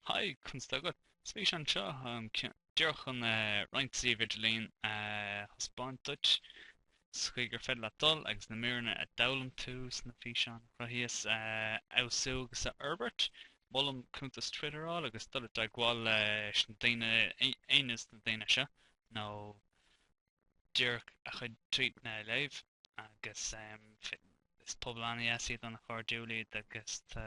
Haigh, conas tá agat? Is físeán é seo díreach chun roinnt suíomh idirlín a thaispeáint duit sa chaoi gur féidir leat dul agus na míreanna a d'fhoghlaim tú sna físeáin a chruthaíos a fheabhsú agus a fhorbairt. Molaim cuntas Twitter a fháil agus dul i dteagmháil leis na daoine, aon des na daoine seo, nó díreach a chuid tweetanna a léamh. Agus is pobal an-dheas iad, an-chairdiúil iad agus tá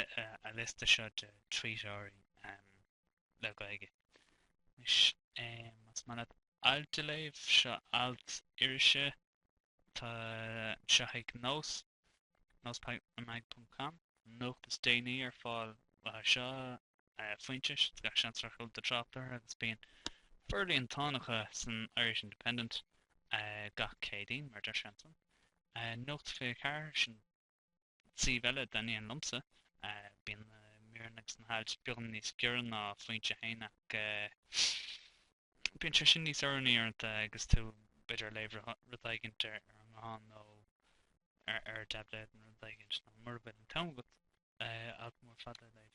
an liosta seo de tweeteoirí le Gaeilge. Anois, más maith leat ailt a léamh, seo alt irise atá anseo ag nós, nósmag ponc com, an nuacht is déanaí ar fáil uathu seo, Foinse, is gach seans gur chuala tú trácht orthu agus bíonn forlíontán acu san Irish Independent gach Céadaoin, mar a deir sé ansan. Nuacht 24, sin suíomh eile a thaitníonn liomsa. Bíonn na míreanna agus na hailt beagán níos giorra ná Foinse féin ach bíonn sé sin níos oiriúnaí uaireanta agus tú, b'fhéidir, ag léamh rud éigint ar an nguthán nó ar thaibléad nó rud éigint, nó mura bhfuil an t-am agat alt mór fada a léamh.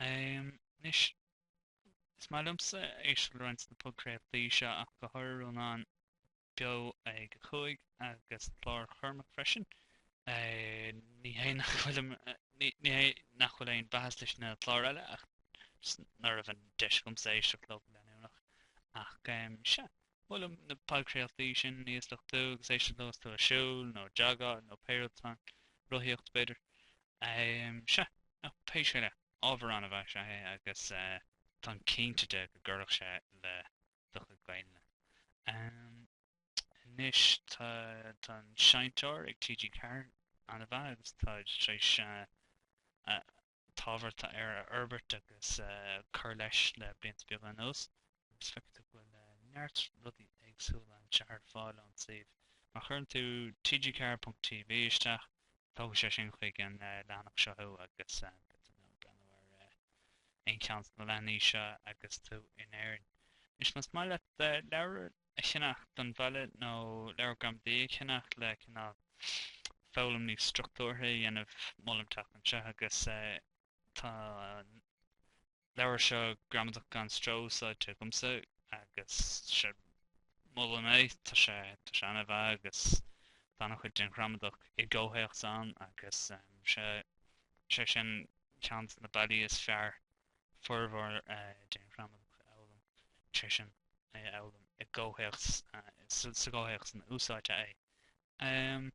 Anois, is maith liomsa éisteacht le roinnt de na podchraoltaí seo ach go háirithe Rónán, beo ag a cúig agus clár Chormaic freisin. Ní hé nach bhfuil an, ní hé nach bhfuil aon mhaitheas leis na cláir eile ach just ná raibh an deis agamsa éisteacht leo go leanúnach. Ach sea, molaim na podchraoltaí sin a íosluchtú agus éisteacht leo is tú ag siúl nó jogáil nó pé rud atá ann, rothaíocht b'fhéidir. Sea, pé scéal é, ábhar an-mhaith is ea é agus táim cinnte de go gcuirfeadh sé le do chuid Gaeilge. Anois tá an seinnteoir ag TG4 an-mhaith agus táid tar éis an t-ábhar atá air a fhorbairt agus a chur leis le blianta beaga anuas agus feicfidh tú go bhfuil neart rudaí éagsúla anseo ar fáil ón suíomh. Má chuireann tú TG4.tv isteach, tógfaidh sé sin chuig an leathanach seo thú agus beidh tú in ann breathnú ar aon cheann de na leathanaigh seo agus tú in Éirinn. Anois, más maith leat leabhar a cheannach don bhaile nó leabhar gramadaí a cheannach le cineál foghlaim níos struchtúrtha a dhéanamh, molaim teacht anseo agus tá an leabhar seo Gramadach Gan Stró úsáidte agamsa agus molaim é, tá sé an-mhaith agus tá an-chuid den ghramadach i gcomhthéacs ann agus sé sin Ceann de na bealaí is fearr formhór den ghramadach a fhoghlaim, is é sin, é a fhoghlaim i gcomhthéacs, sa gcomhthéacs ina úsáidtear é.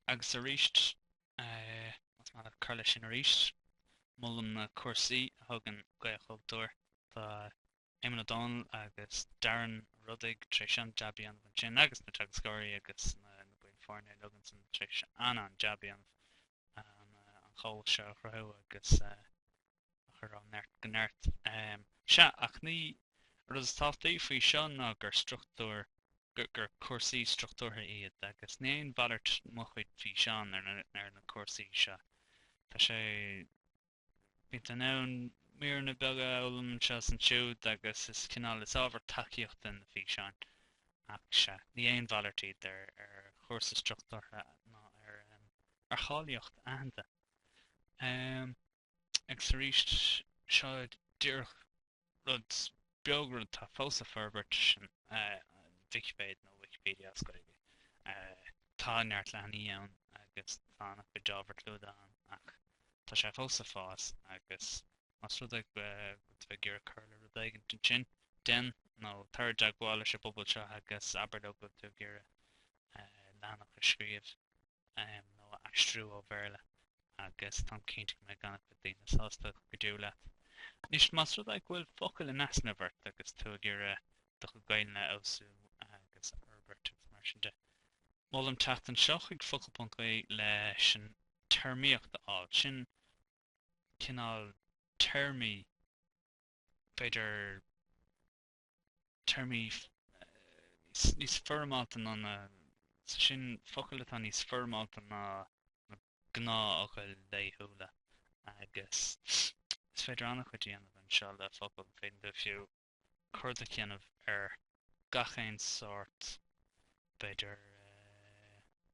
Agus arís, más maith leat cur leis sin arís, molaim na cúrsaí a thugann Gaelchultúr. Tá Éamonn Ó Dónaill agus Darren Ó Rodaigh tar éis an-jab a dhéanamh ansin agus na teagascóirí agus na baill foirne uilig ansin tar éis an-an-jab a dhéanamh an chomhlacht seo a chruthú agus a chur ó neart go neart. Sea, ach ní, an rud is tábhachtaí faoi seo ná gur struchtúr, gur cúrsaí struchtúrtha iad agus ní aon mhalairt mo chuid físeán ar na cúrsaí seo. Tá sé. Bíonn tú in ann míreanna beaga a fhoghlaim anseo is ansiúd agus is cineál, is ábhar tacaíochta na físeáin. Ach sea, ní aon mhalairt iad ar chúrsa struchtúrtha ná ar cháilíocht aitheanta. Agus arís, seo díreach Rud beag rud atá fós ag forbairt sin Vicipéid nó Wikipedia as Gaeilge. Tá neart leathanaigh ann agus tá an-chuid ábhar clúdaithe ann ach tá sé fós ag fás agus más rud é go bhfuil tú ag iarraidh cur le rud éigin ansin, déan nó tar i dteagmháil leis an bpobal seo agus abair leo go bhfuil tú ag iarraidh leathanach a scríobh. um, nó a aistriú ó Bhéarla agus táim cinnte go mbeidh an-chuid daoine sásta go deo leat. Anois más rud é go bhfuil focail in easnamh ort agus tú ag iarraidh do chuid Gaeilge a fheabhsú agus a fhorbairt agus mar sin de. Molaim teacht anseo chuig focal.ie leis an téarmaíocht a fháil. Sin cineál téarmaí b'fhéidir téarmaí níos foirmeálta ná na, is é sin, focail atá níos foirmeálta ná na gnáthfhocail laethúla, agus is féidir an-chuid a dhéanamh anseo le focail, féadann tú, fiú, cuardach a dhéanamh ar gach aon sórt, b'fhéidir,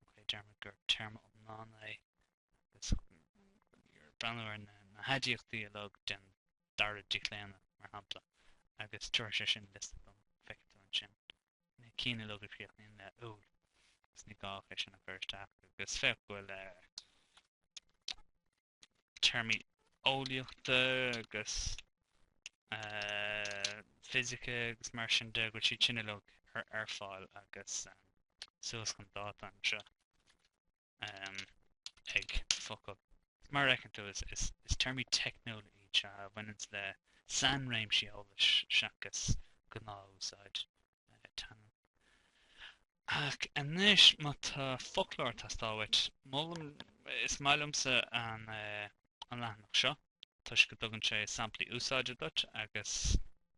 ok, deirimis gur téarma iomlán é, agus ag breathnú ar na haidiachtaí uilig den dara díochlaonadh, mar shampla, agus tabharfaidh sé sin liosta dom. Feicfidh tú ansin na cinn uilig a chríochnaíonn le úil, agus ní gá é sin a chur isteach, agus féach go bhfuil téarmaí eolaíochta agus fisice agus mar sin de, go bhfuil siad sin uilig ar fáil agus suas chun dáta anseo. ag focal. Mar a fheiceann tú, is téarmaí teicniúla iad seo a bhaineanns le sainréimsí eolais seachas gnáthúsáid teangan. Ach anois, má tá foclóir tástáil uait, molaim, is maith liomsa an leathanach seo toisc go dtugann sé samplaí úsáide duit agus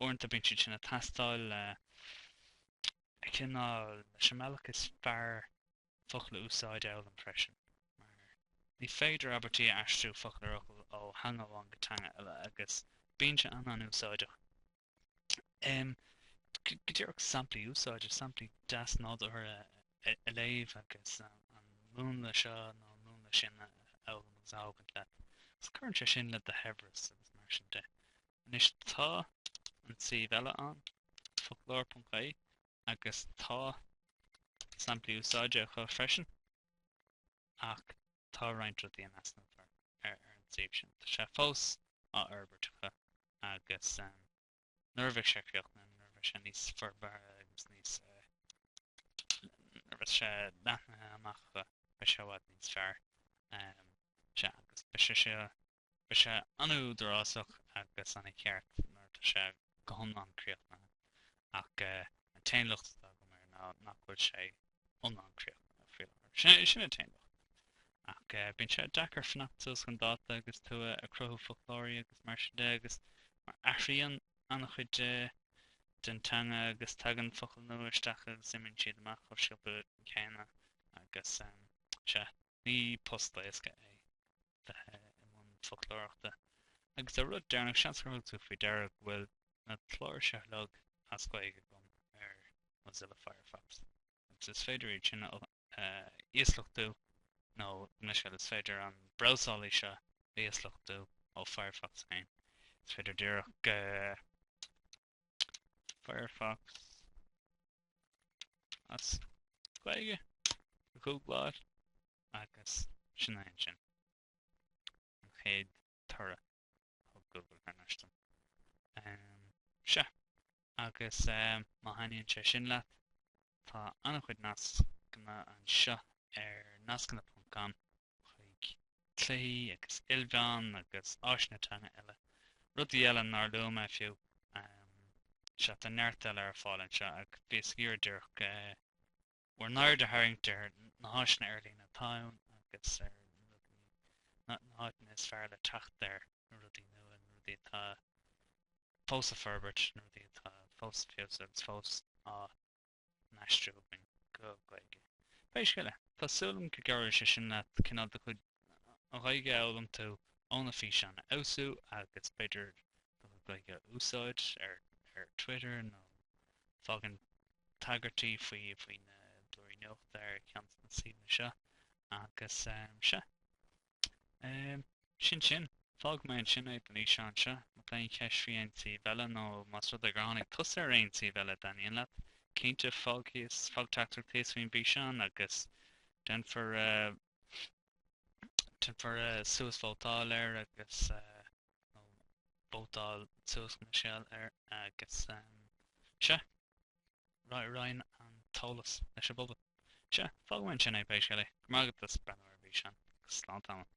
uaireanta bíonn siad sin ag teastáil le cineál, leis an mbealach is fearr focal a úsáid a fhoghlaim freisin, mar ní féidir abairtí a aistriú focal ar fhocal ó theanga amháin go teanga eile, agus bíonn sé an-an-úsáideach. Em. go díreach samplaí úsáide, samplaí deas nádúrtha a léamh agus an múnla seo nó an múnla sin a fhoghlaim agus a thógaint leat, agus cuireann sé sin le do shaibhreas agus mar sin de. Anois tá an suíomh eile ann, foclóir.ie, agus tá samplaí úsáide acu freisin. Ach tá roinnt rudaí in easnamh ar an suíomh sin. Tá sé fós á fhorbairt acu agus nuair a bheidh sé críochnaithe, nuair a bheidh sé níos forbartha agus níos nuair a bheidh sé leathnaithe amach acu, beidh sé i bhfad níos fearr. Sea, agus beidh sé Beidh sé an-údarásach agus an-cheart nuair atá sé go hiomlán críochnaithe, ach an t-aon locht atá agam air ná nach bhfuil sé iomlán críochnaithe faoi láthair. Sin an t-aon locht. Ach bíonn sé deacair fanacht suas chun dáta agus tú ag cruthú foclóirí agus mar sin de agus mar athraíonn an-chuid den teanga agus tagann focail nua isteach agus imíonn siad amach chomh sciobtha céanna agus sea, ní post éasca é. i mbun foclóireachta. Agus an rud deireanach, seans gur thug tú faoi deara go bhfuil na cláir seo uilig as Gaeilge agam ar Mozilla Firefox. Agus is féidir iad sin a íosluchtú nó gabh mo leithscéal is féidir an brabhsálaí seo a íosluchtú ó Firefox féin. Is féidir díreach go. Firefox as Gaeilge a ghoogláil agus sin é ansin an chéad toradh ó Google ar ndóigh. Um, sea agus um, má thaitníonn sé sin leat tá an-chuid nascanna anseo ar nascanna.com chuig cluichí agus ilmheáin agus áiseanna teanga eile, rudaí eile nár luaigh mé fiú. Sea, tá neart eile ar fáil anseo ach bhíos ag iarraidh díreach bhur n-aird a tharraingt ar na háiseanna ar líne atá ann agus ar na háiteanna is fearr le teacht ar rudaí nua, na rudaí atá fós á bhforbairt, na rudaí atá fós ag feabhsú agus fós á. n-aistriú againn go Gaeilge. Pé scéal é, tá súil agam go gcabhróidh sé sin leat cineál do chuid Ghaeilge a fhoghlaim tú ó na físeáin a fheabhsú agus b'fhéidir do chuid Gaeilge a úsáid ar ar Twitter nó fágaint tagairtí faoi faoi na blúirí nuachta ar cheann de na suíomhanna seo agus sea. Sin sin. Fágfaidh mé ansin é don fhíseán seo. Má tá aon cheist faoi aon suíomh eile, nó más rud é gur tháinig tusa ar aon suíomh eile a dtaitníonn leat, cinnte, fág thíos, fág teachtaireacht thíos faoin bhfíseán agus déanfar, déanfar suas vótáil air agus, nó vótáil suas, gabh mo leithscéal, air agus, sea. Roinn an t-eolas leis an bpobal. Sea, fágfaidh mé ansin é, pé scéal é. Go raibh maith agat as breathnú ar an bhfíseán, agus slán tamall.